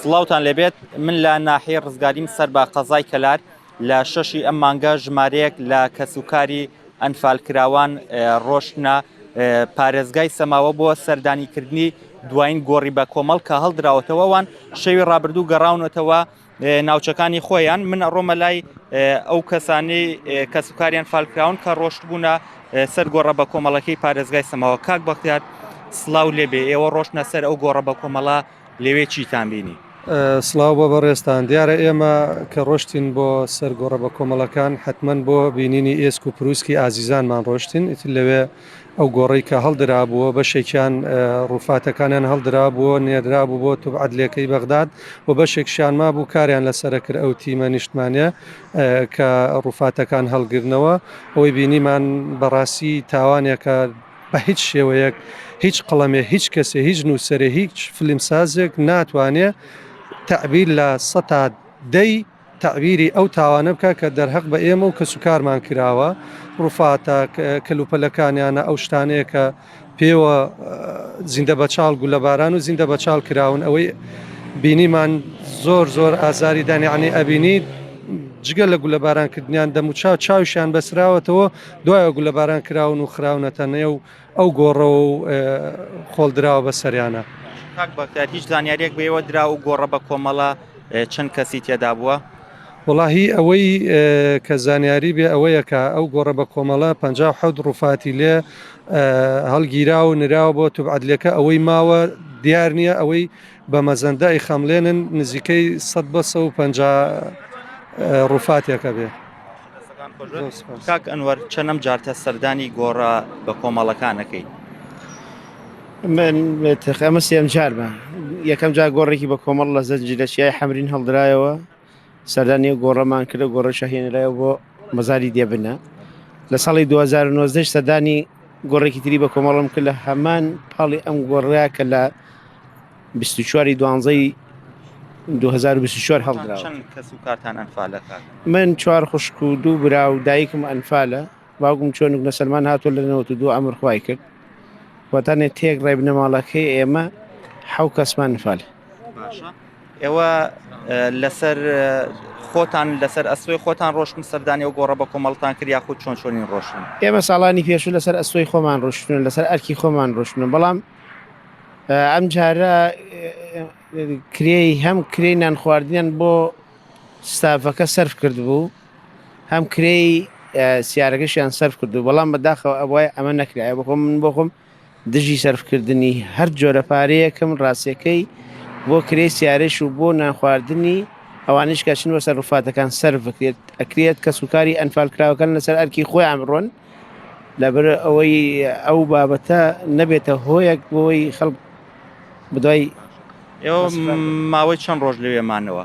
سڵاوتان لێبێت من لە ناحیەی ڕزگاریم سەر بە قەزای کەلار لە شەشی ئەم مانگە ژمارەیەک لە کەسوکاری ئەنفالکراوان ڕۆشتنە پارێزگای سەماوە بۆ سەردانیکردنی دوایین گۆڕی بە کۆمەڵ کە هەڵدراوەتەوە وان شەوی ڕابردوو گەڕاونەتەوە ناوچەکانی خۆیان من ڕۆمە لای ئەو کەسانی کەسوکاریان فالکراون کە ڕۆشتبوونە سەر گۆڕە بەکۆمەڵەکەی پارێزگای سەماوە کاک بەختیار سلااو لێبێ ئێوە ڕۆشتە سەر ئەو گۆڕە بەکۆمەڵە لەوێ چیتان بینی؟ سڵاو بۆ بەڕێزتان دیارە ئێمە کە ڕۆشتین بۆ سەر گۆڕە بە کۆمەڵەکان حتمما بۆ بینینی ئێسک و پرووسکی ئازیزانمان ڕۆشتین ئیتر لەوێ ئەو گۆڕەی کە هەڵدرابووە بەشێکیان ڕووفاتەکانیان هەڵدرابووە نێردرابوو بۆ توبعەدلێکەی بەغداد و بەشێکشیان مابوو کاریان لەسەرەکرد ئەو تیمە نیشتمانیە کە ڕوفاتەکان هەڵگرنەوە ئەوەی بینیمان بەڕاستی تاوانێکە بە هیچ شێوەیەک هیچ قڵەمێ هیچ کەسێ هیچ نووسەرێ هیچ فلمسازێک ناتوانێ تعبیر لە سەتا دەی تعبیری ئەو تاوانە بکە کە دەرهەق بە ئێمە و کەسوکارمان کراوە ڕوفاتە کەلوپەلەکانیانە ئەو شتانەیە کە پێوە زیندە بەچاڵ گولەباران و زیندە بەچاڵ کراون ئەوەی بینیمان زۆر زۆر ئازاری دانیانی ئەبینیت جگە لە گولە بارانکردنیان دەموچاو چاوشیان بەسراوەتەوە دوایە گولە باران کراون و خراونەتە نێ و ئەو گۆڕەوە و خۆڵدراوە بە سەریانە هیچ زانیاریێک بەوە درا و گۆڕە بە کۆمەڵە چەند کەسی تێدا بووە وەڵاهی ئەوەی کە زانیاری بێ ئەوەیە کە ئەو گۆڕە بە کۆمەڵە پەنجا و حەوت ڕووفاتی لێ هەڵگیرا و نراوە بۆ توبعەدلەکە ئەوەی ماوە دیار نییە ئەوەی بە مەزەندە ئیخەمڵێنن نزیکەی سەد بە سە و پەنجا ڕووفاتێکە بێ کاک ئەنوەر چەنەم جارتە سەردانی گۆڕە بە کۆمەڵەکانەکەی من تقامە سێم جارمە یەکەم جار گۆڕێکی بە کۆمەڵ لە زەنجی لە چیای حەمرین هەڵدرایەوە سەردانی گۆڕەمان کرد گۆڕە شەهێنرایەوە بۆ مەزاری دێبنە لە ساڵی 2009 سەردانی گۆڕێکی تری بە کۆمەڵم کرد لە هەمان پاڵی ئەم گۆڕە کە لە 24 دوانزەی 2024 هەڵدرا من چوار خوشک و دوو برا و دایکم ئەنفالە باوکم چۆنک نەسەلمان هاتووە لە نەوەت و دوو ئەمر خوای کرد و تەنێ تێک ڕێ بنەماڵەکەی ئێمە حەو کەسمان نفال باشە ئێوە لەسەر خۆتان لەسەر ئەسوی خۆتان ڕۆشتن سەردانی و گۆڕە بە کۆمەڵتان کرد یاخود چۆن چۆنین ڕۆشتن ئێمە ساڵانی پێشوو لەسەر ئەسوی خۆمان ڕۆشتن لەسەر ئەرکی خۆمان ڕۆشتن بەڵام ئەم جارە کرێی هەم کرێی نان خواردنیان بۆ ستافەکە سرف کرد بوو هەم کرێی سیارەکەشیان سەرف کردو بەڵام بەداخەوە ئەوای ئەمە نەکرایە بخۆم من بۆخۆم دژی سەرفکردنی هەر جۆرە پارەیەکم ڕاستەکەی بۆ کرێ سیارش و بۆ نانخواردنی ئەوانش کەچن وە سەرفاتەکان سەر بکرێت ئەکرێت کە سوکاری ئەنفال کراوەکان لەسەر ئەرکی خۆی ئەمڕۆن لەبەر ئەوەی ئەو بابەتە نەبێتە هۆیەک بۆی خەڵک بدوای ماوەی چەند ڕۆژ لەوێمانەوە